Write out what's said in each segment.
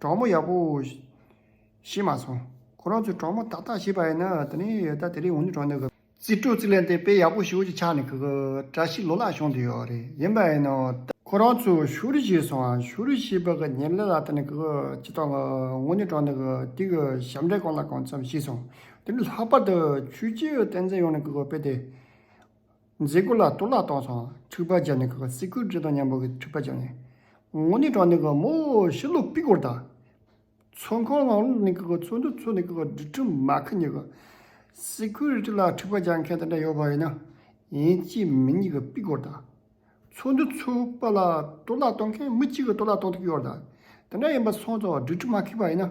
གྲོགས་མོ་ཡག་པོ། ཤི་མ་སོང། ཁོ་རང་ཚོའི་གྲོགས་མོ་ཏག་ཏག་ཤི་བ་ཡིན་ན་ད་ནི་ད་དེ་རིང་འུ་གཉིས་གྲོགས་འདོད་གི། རྩིས་སྤྲོད་རྩིས་ལེན་དེ་དཔེ་ཡག་པོ་ཞིག་འུ་གཅིག་ཆགས་ནས་གི་གི། བཀྲ་ཤིས་ལོ་ལགས་གཞུང་དེ་ཡོད་རེད་ཡིན་པ་ཡིན་ནོ། ཁོ་རང་ཚོ་ཤུ་རི་ཤི་སོང་ཨ། ཤུ་རི་ཤི་བ་གི་ཉིན་ལ་ལ་ད་ནི་གི་གི་ཅི་ཐོག་འུ་གཉིས་གྲོགས་འདོད་གི་དེ་གི་ཞབས་འདྲེན་གང་ལ་གང་འཚམས་ཤི་སོང་དེ་ནི་ལྷག་པར་དུ་ཆུ་སྐྱེས་བསྟན་འཛིན་ཡོང་ནས་གི་གི་དཔེ་དེ། མཛེས་སྐུ་ལ་གཏོར་བརླག་གཏོང་སོང་འཁྲུག་པ་བྱས་ནས་གི་གི་སི་ཁུལ་བཀྲས་མཐོང་མཉམ་པོ་གི་འཁྲུག་པ་བྱས་ནས། ངོ་ནི་གྲོང་ནི་གི་མོ་ཤི་ལུག་པི་གོར་དང། ཚོན་ཁོང་ལང་ལུག་ནི་གི་གི་ཚོན་དུ་ཚོན་ནི་གི་གི་སྦྲུལ་ཁྲི་མ་གི་ནི་གི་སི་ཁུལ་རི་ཁྲི་ལ་འཁྲུག་པ་བྱ་མཁན་དེ་འདྲ་ཡོད་པ་ཡིན་ན། ཡིན་གཅིག་མིན་གཉིས་གི་པི་གོར་དང། ཚོན་དུ་ཚོན་པ་ལ་གཏོར་བརླག་གཏོང་མཁན་མི་གཅིག་གི་གཏོར་བརླག་གཏོང་ཐུབ་ཀི་ཡོད་དང་དེ་འདྲ་ཡིན་པ་སོང་ཙང་སྦྲུལ་ཁྲི་མ་གི་པ་ཡིན་ན།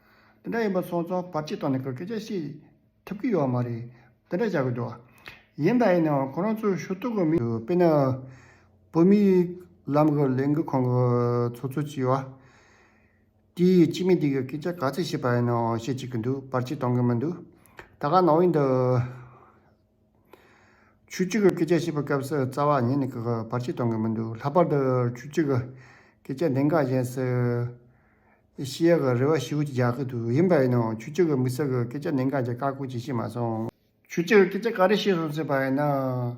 འདི་འདྲ་ཡིན་པ་སོང་ཙང་བར་ཆད་གཏོང་ནས་ཁོས་སྐད་ཆ་བཤད་ཐུབ་ཀྱི་ཡོད་མ་རེད། འདི་འདྲ་བྱ་དགོས་འདུག་ཡིན་དང་ཡིན་ནའང་ཁོ་རང་ཚོའི་ཞུ་གཏུག་གི་མི། དཔེར་ན། བོད་མི་ལམ་གི་ལས་འགུལ་ཁང་གི་ཚོགས་གཙོ་བྱས་བ། དེ་ཡིས་སྤྱི་མི་འདི་གི་སྐད་ཆ་ག་ཚད་བཤད་པ་ཡིན་ནའང་བཤད་ཅི་གི་འདུག་བར་ཆད་གཏོང་གི་མི་འདུག་ད་ག་ནང་བའི་འདི། ཆུ་གཅིག་གི་སྐད་ཆ་བཤད་པའི་སྐབས་སུ་རྩ་བ་ཉིད་ནས་ཀྱི་གི་བར་ཆད་གཏོང་གི་མི་འདུག་ལྷག་པར་དུ་ཆུ་གཅིག་གི་སྐད་ཆ་འདི་འགའ་གཞན་སུ་ཤི་ཡག་གི་རེ་བ་ཞིག་རྒྱག་གི་འདུག་ཡིན་པ་ཡིན་ནའང་ཆུ་གཅིག་གི་མི་སེར་གྱི་སྐད་ཆ་འདི་འགའ་ཅིག་བཀག་འགོག་བྱེད་ཤེས་མ་སོང། ཆུ་གཅིག་གི་སྐད་ཆ་ག་རེ་བཤད་སོང་ཟེར་བ་ཡིན་ན།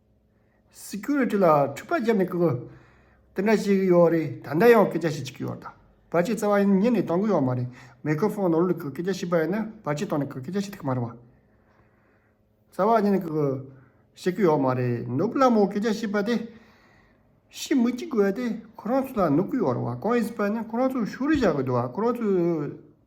Security ལ་འཁྲུག་པ་བརྒྱབ་ནས་ཀི་གི། དེ་འདྲ་ཞིག་ཡོད་རེད་ད་ལྟ་ཡང་སྐད་ཆ་ཞིག་གཅིག་ཡོད་ད། བར་ཆད་བཙལ་བ་ཡིན་ཉིད་ནས་དང་གི་ཡོད་མ་རེད་མེ་ཁི་ཧྥོང་ནོར་ལུག་གི་སྐད་ཆ་ཞིག་པའི་ནི་བར་ཆད་བཏང་ནས་ཀི་སྐད་ཆ་ཞིག་ཐུག་མ་རེད་བ། བཙལ་བ་ཉིད་ནས་ཀི་གི། བཤད་གི་ཡོད་མ་རེད་ནུབ་ལ་མོ་སྐད་ཆ་ཞིག་པ་དེ། ཤི་མི་གཅིག་བས་དེ་ཁོ་རང་ཚོ་ལ་ནུབ་གི་ཡོད་རེད་བ་གང་ཡིན་ཟེར་པ་ནི་ཁོ་རང་ཚོ་ཤུ་རུ་བཞག་གི་འདུག་བ་ཁོ་རང་ཚོའི།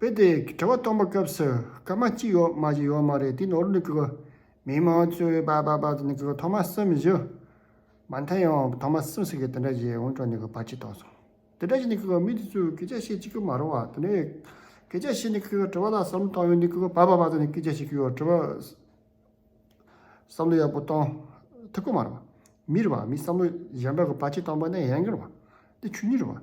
དཔེ་དེ་དྲི་བ་གཏོང་པ་སྐབས་སུ་སྐར་མ་གཅིག་ཡོད་མ་བཞི་ཡོད་མ་རེད་དེ་ནོར་འདུག་གི། མི་མང་གཙོས་པ་པ་པ་ནི་གི་ཐོག་མ་གསུམ་བཞི། མ་མཐའ་ཡང་ཐོག་མ་གསུམ་ཟེར་གི་དེ་འདྲ་ཞིག་འོང་གྲོགས་ནི་གི་བར་ཆད་གཏོང་སོང། དེ་འདྲ་ཞིག་ནི་གི་མི་དེ་ཚོས་སྐད་ཆ་བཤད་ཅི་གི་མ་རུང་བ་དེ་འདྲ་ཡོད། སྐད་ཆ་བཤད་ནི་གི་དྲི་བ་ལ་བསམ་བློ་གཏོང་ཡོད་ནི་གི་བ་པ་པ་ཚོ་ནི་སྐད་ཆ་བཤད་གི་ཡོད་དྲི་བ་བསམ་བློ་ཡག་པོ་གཏོང་ཐུབ་གི་མ་རུང། མི་རེ་བ་མི་བསམ་བློ་གཞན་པ་གི་བར་ཆད་གཏོང་པ་ནི་ཡན་གི་རུང་བ། འདི་ཆོས་ཉིད་རུང་བ།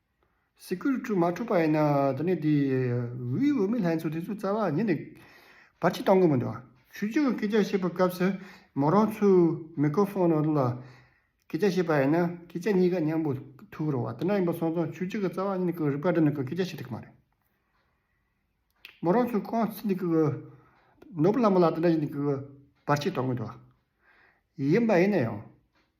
སྲིད་སྐུལ་བཀྲུ་མ་ཐུབ་པ་ཡིན་ན་ད་ནི་དེ་འི་འོས་མི་ལྷན་ཚོགས་དེ་ཚོའི་རྩ་བ་ཉིད་ནས་བར་ཆད་གཏང་གི་མི་འདུག་ཆོས་རྗེ་བོ་སྐད་ཆ་བཤད་པའི་སྐབས་སུ་མོ་རང་ཚོའི་མི་ཀོ་ཧྥོན་ནོར་ལ་སྐད་ཆ་བཤད་པ་ཡིན་ན་སྐད་ཆ་གཉིས་ཀ་མཉམ་པོ་ཐུག་རོགས་དེ་འདྲ་ཡིན་པ་སོང་ཙང་ཆོས་རྗེ་གི་རྩ་བ་ཉིད་ནས་ཀི་རིག་པ་འདྲ་ནི་ཀི་སྐད་ཆ་བཤད་ཐུབ་ཀི་མ་རེད། མོ་རང་ཚོའི་ཁོང་ཚིག་འདི་ཀི་ནོར་བུ་ལྷ་མོ་ལ་དེ་འདྲ་བཞིན་ནི་ཀི་བར་ཆད་གཏང་གི་འདུག་ཡིན་པ་ཡིན་ན་ཡང།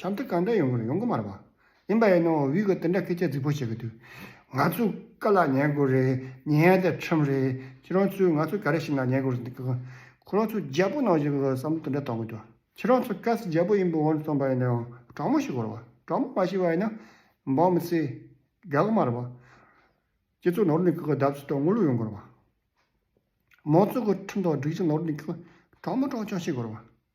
བྱམས་བརྩེ་གང་འདྲ་ཡོང་གི་རེད་ཡོང་གི་མ་རེད་པ། ཡིན་པ་ཡིན་ནའོ་བྷི་གིས་དེ་འདྲ་སྐད་ཆ་རྫིག་པོ་བཤད་གི་འདུག་ང་ཚོས་དཀའ་ལ་ཉེན་དགོས་རེད་ཉེན་ཡང་དེ་ཁྲིམས་རེད་ཁྱེད་རང་ཚོས་ང་ཚོས་ག་རེ་བྱེད་ན་ཉེན་དགོས་རེད་འདུག་ཁོ་རང་ཚོས་རྒྱལ་པོ་ནང་བཞིན་བསམ་བློ་དེ་འདྲ་གཏོང་གི་འདུག་ཁྱེད་རང་ཚོ་གལ་སྲིད་རྒྱལ་པོ་ཡིན་པའི་དབང་དུ་སོང་པ་ཡིན་ནའོ་དྲང་མོ་ཞིག་གོ་རེད་པ་དྲང་མོ་མ་ཤེས་པ་ཡིན་ན་འབངས་མི་ཚེ་རྒལ་གི་མ་རེད་པ། སྤྱི་ཚོགས་ནོར་འདུག་གི་བརྡབ་གསིག་དང་དངུལ་ལོས་ཡོང་གི་རེད་པ། མང་གཙོ་གི་ཁྲིམས་དང་སྒྲིག་གཞི་ནོར་འདུག་གི་དྲང་མོ་དྲང་ཆགས་བྱེད་དགོས་རེད་པ།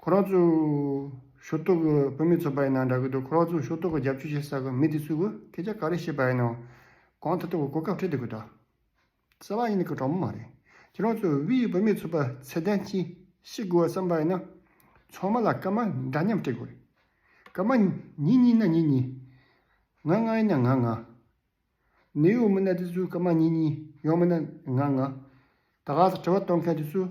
ཁོ་རང་ཚོ་ཞོ་ཏོག་གི་བུད་མེད་ཚོ་པ་ཡིན་ན་འདྲ་གི་འདུག་ཁོ་རང་ཚོ་ཞོ་ཏོག་གི་རྒྱབ་སྐྱོར་བྱེད་ས་གི་མི་དེ་ཚོས་གི་ཁྱེད་ཅག་ག་རེ་བྱེད་པ་ཡིན་ནམ། གང་ཐ་ཐུག་གི་གོ་སྐབས་འཕྲད་འདུག་གི་འདྲ། གསལ་བ་ཡིན་ནི་གི་དྲང་མོ་མ་རེད། ཁྱེད་རང་ཚོས་དབུས་ཡི་བུད་མེད་ཚོ་པ་ཚད་ལྡན་གྱིས་ཤེས་དགོས་བ་བསམ་པ་ཡིན་ན། ཚང་མ་ལ་སྐར་མ་འདྲ་མཉམ་སྤྲད་དགོས་རེད། སྐར་མ་གཉིས་གཉིས་ན་གཉིས་གཉིས། ང་ལྔ་ཡིན་ན་ང་ལྔ། ནེའུ་ཡོག་མི་སྣ་དེ་ཚོས་སྐར་མ་གཉིས་གཉིས་ཡོང་མིན་ན་ང་ལྔ། ད་ག་ས་དྲི་བ་གཏོང་མཁན་དེ་ཚོས།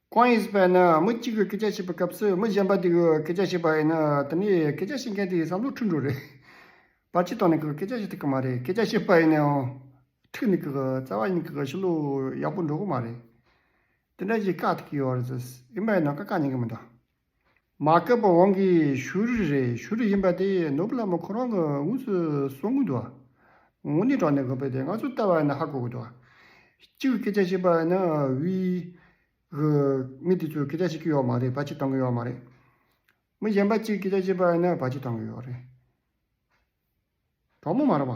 གང་ཡིན་ཞེས་པ་ནི་མི་གཅིག་གིས་སྐད་ཆ་བཤད་པའི་སྐབས་སུ་མི་གཞན་པ་དེ་གིས་སྐད་ཆ་བཤད་པ་ཡིན་ན་དེ་ནི་སྐད་ཆ་བཤད་མཁན་དེའི་བསམ་བློ་འཁྲུལ་འགྲོ་རེད། བར་ཆད་དང་ནི་སྐད་ཆ་བཤད་ཐུབ་ཀྱི་མ་རེད་སྐད་ཆ་བཤད་པ་ཡིན་ནའང་ཐུགས་ནི་བཙལ་བ་ཡིན་གྱི་ཤུགས་ལུས་ཡག་པོ་འགྲོ་གི་མ་རེད། དེ་འདྲ་ཞིག་བཀག་ཐུབ་ཀྱི་ཡོད་རེད་ཟེར་ཡིན་པས་ན་བཀག་ཀ་ཉན་གི་མི་འདུག། མ་བསྐལ་པ་དབང་གིས་ཤུ་རི་རེད་ཤུ་རི་ཡིན་པ་དེ་ནུབ་བླ་མ་ཁོ་རང་གི་དངུལ་སུ་གསོང་གི་འདུག་ངོ་ནི་དྲང་གནས་གོ་ཕེ་དེ་ང་ཚོ་ལྟ་བ་ནི་ཧ་གོ་གི་འདུག་གཅིག་སྐད་ཆ་བཤད་པ་ནི་དབུས་གི་མི་དེ་ཚོས་སྐད་ཆ་བཤད་ཀྱི་ཡོག་མ་རེད་བ་ཕྱི་བཏང་གི་ཡོག་མ་རེད་མི་གཞན་པ་གཅིག་སྐད་ཆ་བཤད་པ་ནི་བ་ཕྱི་བཏང་གི་ཡོག་རེད་གྲོགས་མོ་མ་རེད་བ།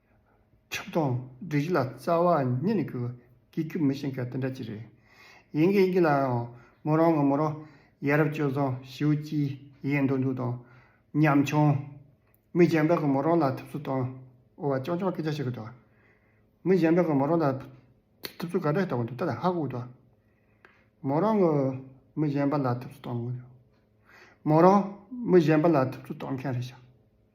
ཆགས་སྡང་བདུད་བཞི་ལ་རྩ་བ་ཉིད་ནས་གུས། གྱི་གྱུ་མི་ཤེས་མཁན་དེ་འདྲ་ཅི་རེད། ཡིན་གྱི་ཡིན་གྱི་ལའང་མོ་རང་ངོ་མོ་རང་ཡ་རབས་སྤྱོད་བཟང་ཞེའུ་སྐྱིད་ཡིན་འདུག་འདུག་དང། ཉམ་ཆུང། མི་གཞན་པའི་གོ་མོ་རང་ལ་ཐུབ་ཚོད་བཏང་འོ་བ་ཅང་ཅང་སྐད་ཆ་བཤད་གི་འདུག། མི་གཞན་པའི་གོ་མོ་རང་ལ་ཐུབ་ཚོད་ག་འདྲ་ཞིག་བཏང་འདུག་ད་ལ་ཧ་གོ་གི་འདུག། མོ་རང་ངོ་མི་གཞན་པ་ལ་ཐུབ་ཚོད་བཏང། མོ་རང་མི་གཞན་པ་ལ་ཐུབ་ཚོད་བཏང་མཁན་རེད་ཤག།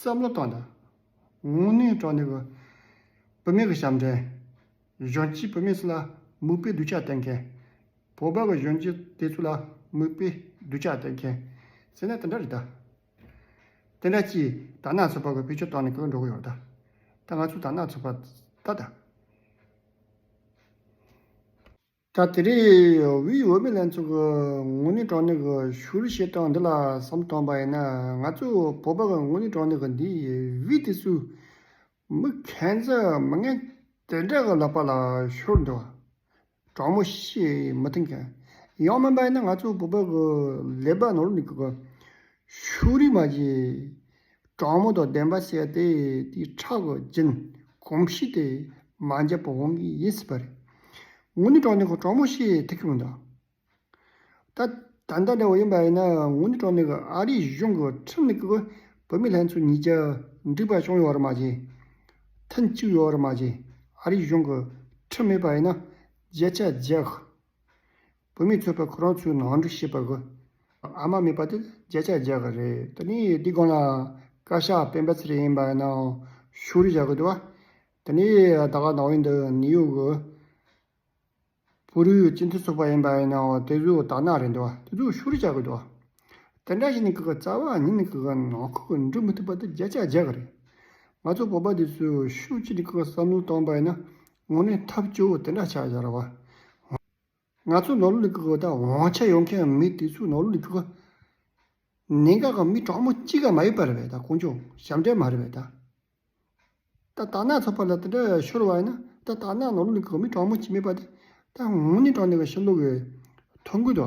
བསམ་བློ་བཏང་དང་དངོས་གནས་དྲང་བདེན་གྱི་བུད་མེད་ཀྱི་ཞབས་འདྲེན། གཞོན་སྐྱེས་བུད་མེད་ཚོ་ལ་མིག་དཔེ་གདུལ་བྱ་བསྟན་མཁན། བོད་པ་གྱི་གཞོན་སྐྱེས་དེ་ཚོ་ལ་མིག་དཔེ་གདུལ་བྱ་བསྟན་མཁན་ཟེར་ན་དེ་འདྲ་རེད་དཱ། དེ་འདྲ་ཅིས་དར་ནག་ཚོད་དཔག་གི་བེད་སྤྱོད་བཏང་ནས་གོད་འགྲོ་གི་ཡོད་རེད་དཱ། ད་ང་ཚོས་དར་ནག་ཚོད་དཔག་ད་དཱ། ད་དེ་རིང་དབུས་འོས་མི་ལྷན་ཚོགས་ཀྱི་དངོས་གནས་དྲང་གནས་ཀྱི་ཞུ་བཤད་སྟངས་འདི་ལ་བསམ་བསྟོན་པ་ཡིན་ན་ང་ཚོ་བོད་པ་གི་དངོས་གནས་དྲང་གནས་ཀྱི་འདི་དབུས་དེ་སུ་མི་ཁེན་ཚ་མི་ངན་དེ་འདྲ་གི་ལག་པ་ལ་ཤོར་འདུག་དྲང་མོ་བཤད་མི་ཐུབ་མཁན་ཡང་མིན་པ་ཡིན་ན་ང་ཚོ་བོད་པ་གི་ལས་པ་ནོར་འདུག་གི་ཤུགས་རིང་མ་བྱེད། དྲག་མོ་དང་ལྡན་པ་བྱས་ཏེ་དེའི་ཁྲག་གི་རྒྱུན་གོམས་གཤིས་དེ་མ་འཇབ་པར་འོང་གི་ཡིན་སྲིད་པ་རེད། ངུ་ནི་གྲོགས་ནི་གོ་གྲོགས་མོ་ཞེས་ཐུགས་ཁེངས་འདུག་ད། ད་ལྟ་འདྲ་བོ་ཡིན་པ་ཡིན་ན་ངུ་ནི་གྲོགས་ནི་གི་ཨ་རིའི་གཞུང་གི་ཁྲིམས་ལུགས་ཀྱི་བུད་མེད་ལྷན་ཚོགས་གཉིས་ཀྱི་འགྲིག་པ་བྱུང་ཡོད་བར་མ་བྱས། མཐུན་གཅིག་ཡོད་བར་མ་བྱས་ཨ་རིའི་གཞུང་གི་ཁྲིམས་མེད་པ་ཡིན་ན་རྒྱལ་ཁྱབ་རྒྱལ། བུད་མེད་ཚོས་པ་ཁོ་རང་ཚོའི་ནང་འདྲི་ཤེས་པ་དགོས། ཨ་མ་མེད་པ་དེ་བརྒྱ་ཆ་བརྒྱ་ག་རེད། ད་ནི་འདི་སྒང་ལ་བཀའ་ཤག་སྤེན་པ་ཚེ་རིང་ཡིན་པ་ཡིན་ནའང་ཤུགས་རེ་བཞག་གི་འདུག་བ། ད་ནི་ད་ག་ནང་བའི་འདི་ནི་ཡུ་གུ། བུ་རུའི་སྤྱི་མཐུན་ཚོགས་པ་ཡིན་པ་ཡིན་ནའང་དེ་ཚོའི་དག་སྣང་རེད་འདུག་བ་དེ་ཚོས་ཤུགས་རེ་བཞག་གི་འདུག་བ། དེ་འདྲ་ཞིག་ནི་གི་གི་རྩ་བ་ཉིད་ནི་གི་གི་ནང་ཁུལ་གྱི་འགྲུབ་མི་ཐུབ་པ་དེ་བརྒྱ་ཆ་བརྒྱ་ག་རེད། ང་ཚོ་བོད་པ་དེ་ཚོས་ཤུགས་ཆེ་ནི་གི་གི་བསམ་བློ་བཏང་པ་ཡིན་ན་དངོས་གནས་ཐབས་སྐྱོ་བོ་དེ་འདྲ་ཆགས་ཡག་ར་བ། ང་ཚོ་ནོར་ལུག་གི་གོས་དག་འོང་ཆ་ཡོང་མཁན་མི་དེ་ཚོས་ནོར་ལུག་གི་གོས་ནན་ག་གང་མི་གྲངས་མོ་གཅིག་ག་མ་ཡོད་པ་རེད་བས་ད་ཀོང་ཅོང་ཞབས་འདྲེན་མ་རེད་བས་ད། ད་ད་ནག་ཚོགས་པ་ལ་དེ་འདྲ་ཤོར་བ་ཡིན་ན་ད་ད་ནག་ནོར་ལུག་གི་གོས་མི་གྲངས་མོ་གཅིག་མེད་པ་དེ་ད་ངོ་ནི་གྲངས་ནས་ག་ཤི་ལུག་གི་ཐོ་འགོད་དོ།